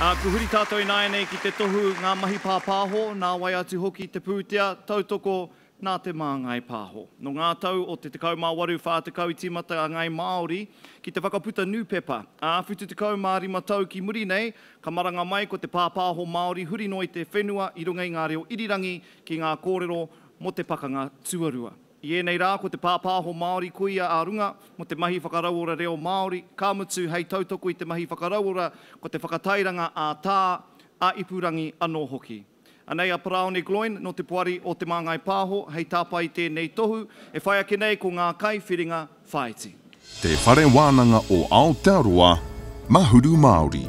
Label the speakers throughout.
Speaker 1: Ā, kua huri tātou ināianei ki te tohu ngā mahi pāpāho, nā wai atu hoki te pūtea, tautoko, nā Te Māngai Pāho. Nō ngā tau o te 18, 40 i tīmata a Ngāi Māori ki te whakaputa nūpepa, ā, 75 tau ki muri nei, ka maranga mai ko te pāpāho Māori huri noa i te whenua i runga i ngā reo irirangi ki ngā kōrero mō te Pakanga Tuarua. I ēnei rā, ko te pāpāho Māori koia ā runga mō te mahi whakarauora reo Māori, ka mutu hei tautoko i te mahi whakarauora ko te whakatairanga ā-tā, ā-ipurangi anō hoki. Anei a Paraone Gloyne nō te Poari o Te Māngai Pāho hei tāpae i tēnei tohu e whai ake nei ko ngā kai whiringa, Whaiti. Te Whare
Speaker 2: Wānanga o Aotearoa, Mahuru Māori.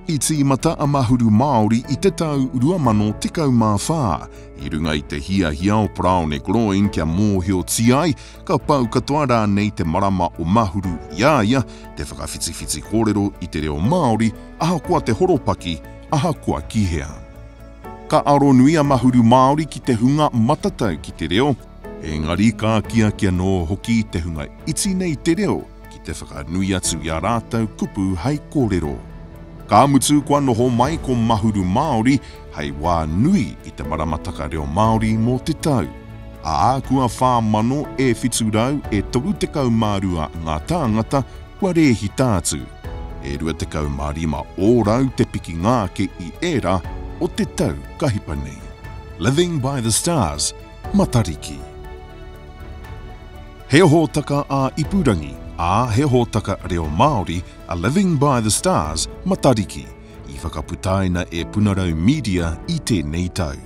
Speaker 2: I tīmata a Mahuru Māori i te tau 2014 i runga i te hiahia o Braune Gloyne kia mōhiotia ai ka pau katoa rānei te marama o Mahuru i a ia te whakawhitiwhiti kōrero i te reo Māori ahakoa te horopaki, ahakoa ki hea. Ka aro nui a Mahuru Māori ki te hunga matatau ki te reo, Engari ka akiaki anō hoki te hunga iti nei te reo ki te whakanui atu i ā rātou kupu hai kōrero. Ka mutu kua noho mai ko Mahuru Māori hai wā nui i te maramataka reo Māori mō te tau, ā, kua 4,732 ngā tāngata kua rēhita atu, e 25 ōrau te pikinga ake i ērā o te tau ka hipa nei. Living by the Stars, Matariki. He hōtaka ā-ipurangi, ā, he hōtaka reo Māori a Living by the Stars, Matariki, i whakaputaina e Punarau Media i tēnei tau.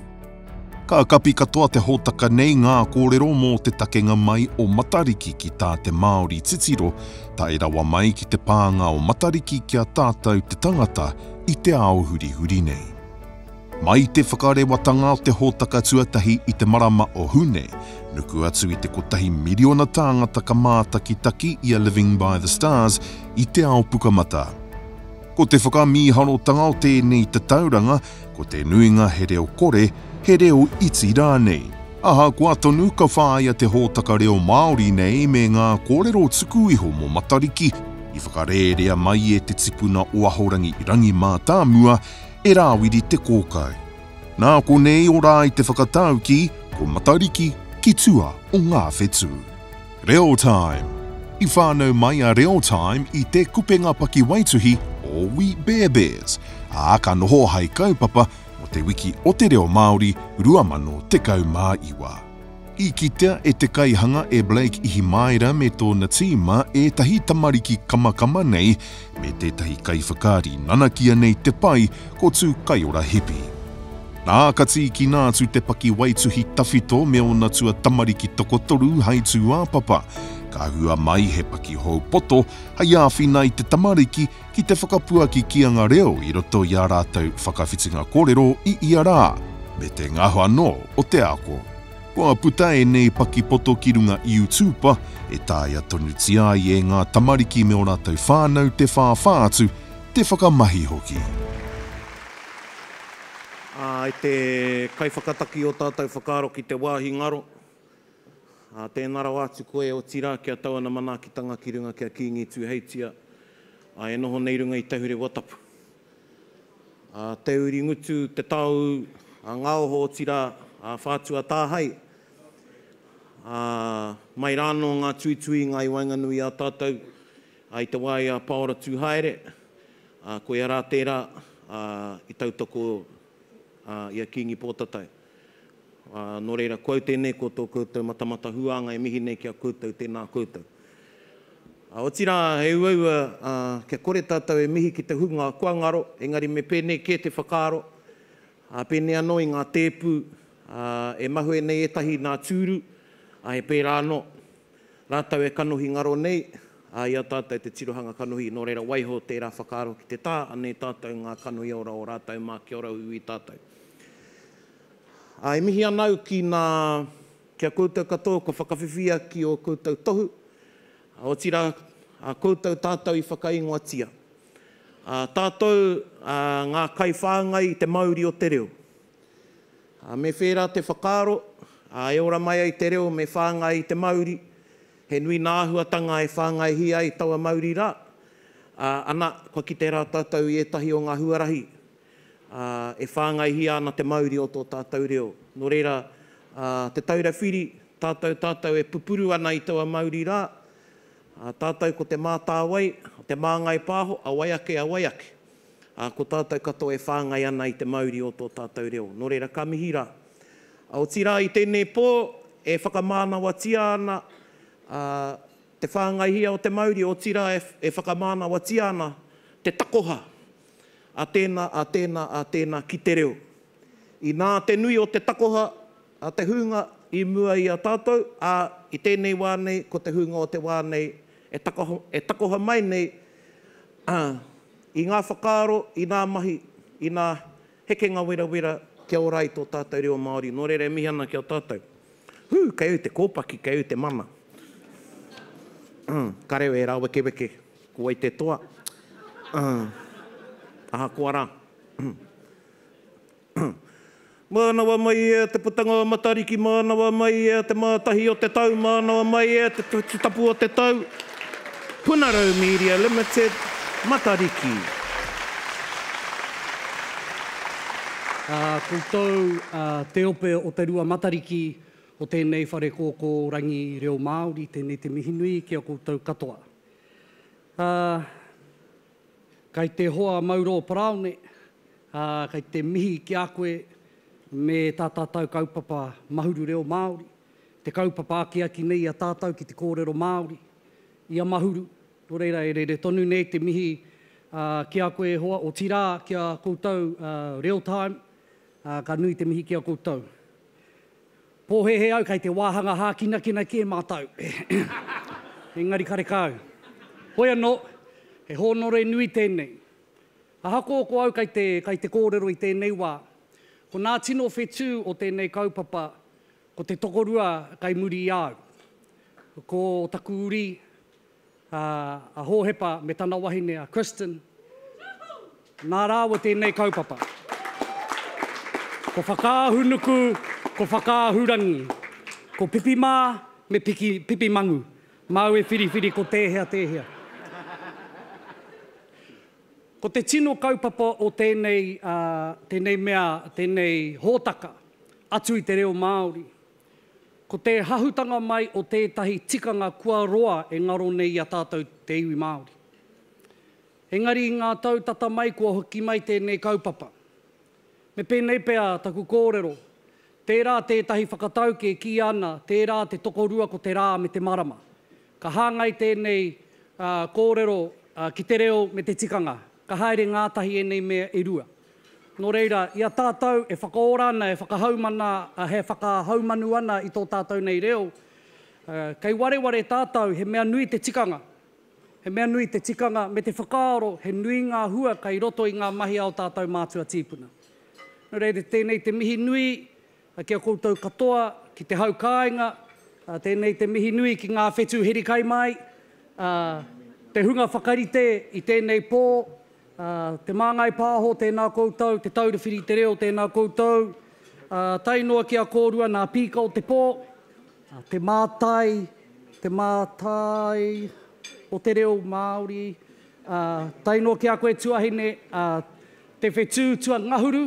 Speaker 2: Ka kapi katoa te hōtaka nei ngā kōrero mō te takenga mai o Matariki ki tā te Māori titiro tae rawa mai ki te pānga o Matariki ki a tātou te tangata i te ao hurihuri nei. Mai te whakarewatanga o te hōtaka tuatahi i te marama o Hune, nuku atu i te kotahi miriona tāngata ka mātakitaki i a Living by the Stars i te ao pukamata. Ko te whakamīharotanga o tēnei tatauranga, ko te nuinga he reo kore, he reo iti rānei. Ahakoa tonu ka whāia te hōtaka reo Māori nei me ngā kōrero tuku iho mō Matariki, i whakarērea mai e te tipuna o Ahorangi Rangimātāmua, e Rāwiri Te Kōkau. Nā konei o rā i te whakatau ki Ko Matariki ki tua o ngā whetū. Reo Time I whānau mai a Reo Time i Te Kupenga Pakiwaituhi o We Bear Bears, ā, ka noho hai kaupapa mō Te Wiki o te Reo Māori 2019. I kitea e te kaihanga e Blake Ihimaera me tōna tīma ētahi tamariki kamakama nei me tētahi kaiwhakaari nanakia nei te pai ko Tū Kaiora Hipi. Nā, ka tīkina atu te pakiwaituhi tawhito me ōna tua tamariki tokotoru hai tūāpapa, ka hua mai he pakihou poto hai āwhina i te tamariki ki te whakapuaki ki anga reo i roto i ā rātou whakawhitinga kōrero i ia rā, me te ngaho anō o te ako. Kua puta ēnei pakipoto ki runga YouTuper e taea tonutia ai e ngā tamariki me ō rātou whānau te whāwhā atu, te whakamahi hoki.
Speaker 3: Ā, e te kaiwhakataki o tātou whakaaro ki te wāhi ngaro, Ā, tēnā rawa atu koe, otirā, ki a tau ana manaakitanga ki runga ki a Kīngi Tūheitia, ā, e noho nei runga i Tahurewa Tapu. Ā, te uri ngutu, te tāu, ā, ngā oho, otirā, ā, whātua tāhae, ā, mai rānō ngā tuituinga i waenganui i a tātou, ā, i te wā i a Pāora Tūhaere, ā, koia rā tērā, ā, i tautoko, ā, i a Kīngi Pōtatau. Ā, nō reira, ko au tēnei ko tō koutou matamata huānga e mihi nei ki a koutou, tēnā koutou. Ā, otirā, he uaua, ā, kia kore tātou e mihi ki te hunga kua ngaro, engari me pēnei kē te whakaaro, ā, pēnei anō i ngā tēpu, ā, e mahue nei ētahi nā tūru, ā, he pērā anō, rātou e kanohi ngaro nei, ā, i a tātou te tirohanga kanohi, nō reira, waiho tērā whakaaro ki te tā, anei tātou ngā kanohi ora o rātou mā kia ora uiui tātou. Ā, e mihi ana au ki nā, ki a koutou katoa kua whakawhiwhia ki ō koutou tohu, ā, otirā, ā, koutou tātou i whakaingoatia, ā, tātou, ā, ngā kaiwhāngai i te mauri o te reo. Ā, me whērā te whakaaro, ā, e ora mai ai te reo me whāngai i te mauri, he nui nā āhuatanga e whāngaihia ai taua mauri rā, ā, ana, kua kite rā tātou i ētahi o ngā huarahi ā, e whāngaihia ana te mauri o tō tātou reo. Nō reira, ā, Te Taura Whiri, tātou, tātou e pupuru ana i taua mauri rā, ā, tātou ko Te Mātāwai, Te Māngai Pāho, a wai ake, a wai ake, ā, ko tātou katoa e whāngai ana i te mauri o tō tātou reo. Nō reira, ka mihi rā. Ā, otirā, i tēnei pō, e whakamānawatia ana, ā, te whāngaihia o te mauri, otirā, e, e whakamānawatia ana te takoha a tēnā, a tēnā, a tēnā ki te reo. Inā te nui o te takoha a te hūnga i mua i a tātou, ā, i tēnei wā nei ko te hūnga o te wā nei e takoha, e takoha mai nei, ā, i ngā whakaaro, i nā mahi, i nā hekenga werawera kia ora ai tō tātou reo Māori. Nō reira e mihi ana ki a tātou. Hū, kei au te kōpaki, kei au te mana. Ka reo e rāwekeweke. Ko wai te toa? Aah. Ahakoa rā. Mānawa mai e te putanga o Matariki, mānawa mai e te mātahi o te tau, mānawa mai e te tutapu o te tau. Punarau Media Limited, Matariki.
Speaker 4: Koutou te ope o te rua Matariki o tēnei whare kōkōrangi reo Māori, tēnei te mihinui ki a koutou katoa. Ā, kei te hoa mau rō Paraone, ā, kei te mihi ki a koe me tā tātou kaupapa Mahuru Reo Māori, te kaupapa akiaki nei i a tātou ki te kōrero Māori, i a Mahuru, nō reira e rere tonu nei te mihi ā, ki a koe e hoa, otirā ki a koutou ā, Reo Time, ā, ka nui te mihi ki a koutou. Pōhēhē au kei te wāhanga hākinakina kē mātou. Engari karekau. Hoi anō, he hōnore nui tēnei. Ahakoa ko au kei te, kei te kōrero i tēnei wā, ko nā tino whetū o tēnei kaupapa, ko te tokorua kei muri i a au. Ko taku uri, ā, a Hōhepa me tana wahine a Kristin, nā rāua tēnei kaupapa. Ko Whakaahunuku, ko Whakaahurangi, ko Pipi mā me Piki, Pipi Mangu, māu e whiriwhiri ko tēhea tēhea. Ko te tino kaupapa o tēnei, ā, tēnei mea, tēnei hōtaka, atu i te reo Māori, Ko te hahutanga mai o tētahi tikanga kua roa e ngaro nei i a tātou te iwi Māori. Engari i ngā tau tata mai kua hoki mai tēnei kaupapa. Me pēnei pea taku kōrero, tērā tētahi whakatauki e kīia ana tērā te tokorua ko te rā me te marama. Ka hāngai tēnei kōrero ki te reo me te tikanga. Ka haere ngātahi ēnei mea e rua. Nō reira, i a tātou e whakaora ana, e whakahaumana, he whakahaumanu ana i tō tātou nei reo, kei wareware tātou he mea nui te tikanga. He mea nui te tikanga me te whakaaro he nui ngā hua kei roto i ngā mahi a ō tātou mātua tīpuna. Nō reira, tēnei te mihi nui Ki a koutou katoa, ki te hau kāinga, tēnei te mihi nui ki ngā whetū heri kai māi, te hunga whakarite i tēnei pō, Te Māngai Pāho, tēnā koutou, Te Taura Whiri i te Reo, tēnā koutou, tae noa ki a kōrua nā Pīka o te Pō, Te Mātai, Te Mātai o te Reo Māori, tae noa ki a koe tuahine, Te Whetū Tuangahuru,